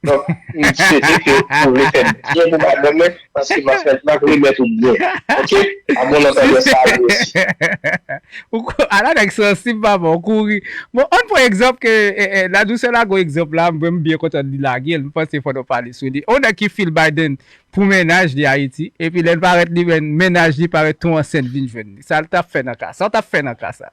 Donk m swete ke ou refèt byen pou madanm mwen paske map fèl map remèt ou byen ok a bon nan tande sa a mwen si. Ou ko a la nèg sansib papa ou kouri bon ann pran egzanp ke la douce lague yon egzanp la mwen m byen kontan li lage l m panse fò nou pale sou li yon nèg ki feel Biden pou mennaj li Ayiti epi lè l parèt li menn mennaj li parèt tou ansent vin jwenn li sa l tap fè nan ka sa sa w tap fè nan ka sa.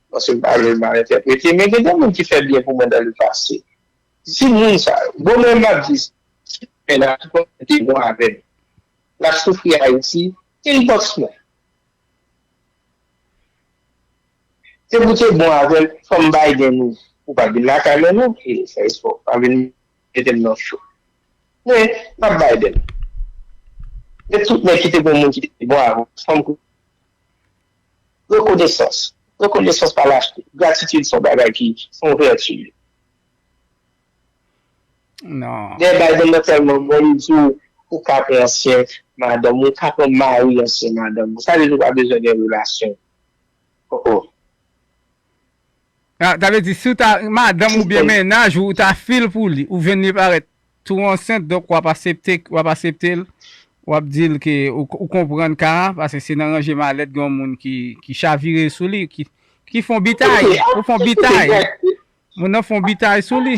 Paske m pa vle l mal entèprete men gen de moun ki fè byen pou mwen dan le pase. Si moun sa yo, bon mwen m ap di sa, si demen nan ki konn fè de bon avè m, l ap soufri Ayiti, inbox mwen. Se pou te bon avè l fò m bay den nou. Ou pa vin lakay mwen non e fè espò. Pa vin mete m nan cho. Men m ap bay den. Gen tout nèg ki te gen moun ki te bon avè l. Rekonesans Rekonesans pa lachte. Gratitid son bagay ki son vèti. Dèyè bay moun nan tèlman bon li di w ou ka pran ansyen madanm ou, ou ka pran mari ansyen madanm ou. Sa vle di ou pa bezwen gen relasyon. Oh oh. Ah sa vle di si w ta madanm ou oubyen mennaj ou ou ta fil pou li ou jwenn li parèt tou ansent donk wap asepte wap asepte l wap di l ke ou konprann ka a paske se nan ranje malèt gen yon moun ki chavire sou li ki fon bitay ou fon bitay moun nan fon bitay sou li.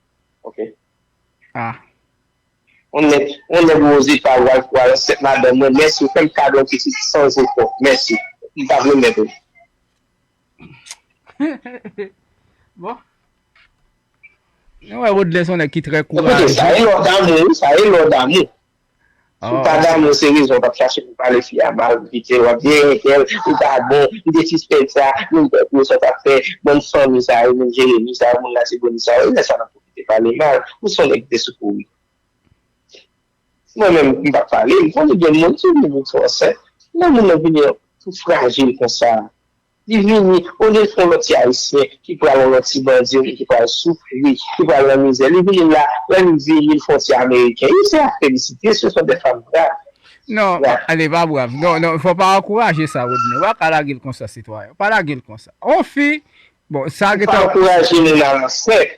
Ok. Ah. On nèg, on nèg oze pa wal pou al ansent madanm mwen, mèsi ou fèm kado yon pitit san jefò, mèsi. M pap remèt ou. Bon. Mwen wè Rodlè son nèg ki trè kourajè. Sa e lò damou wi, sa e lò damou. Ou pa damou se rezon wap chache pou pale fi a mal pou kite wap di eh Michael ou pa bon m te sispèk sa menm tank ou sa w tap fè bann fanmi sa yo menm jeremi sa yo moun latibonit sa yo e lè sa nap pwofite pale mal ou son nèg ki te sou kouri si mwen menm m pap pale m konnen gen moun ki vini pou fransè lè moun nan vini tou frajil konsa Li vini, olye l pran lòt ti Ayisyen ki pral nan lòt ti bandi yo menm ki pral soufri, ki pral nan mizè, li vini la, lè li vini l fè yon ti Ameriken. Yo se a felisite, se son de fanm brav. Non, li pa brav. Non, non, fò w pa ankouraje sa, Rodney. Ou pa ka lage l konsa, sitwayen. Ou pa lage l konsa. On fi, bon, sa gen tan. Ou pa ankouraje moun al ansent.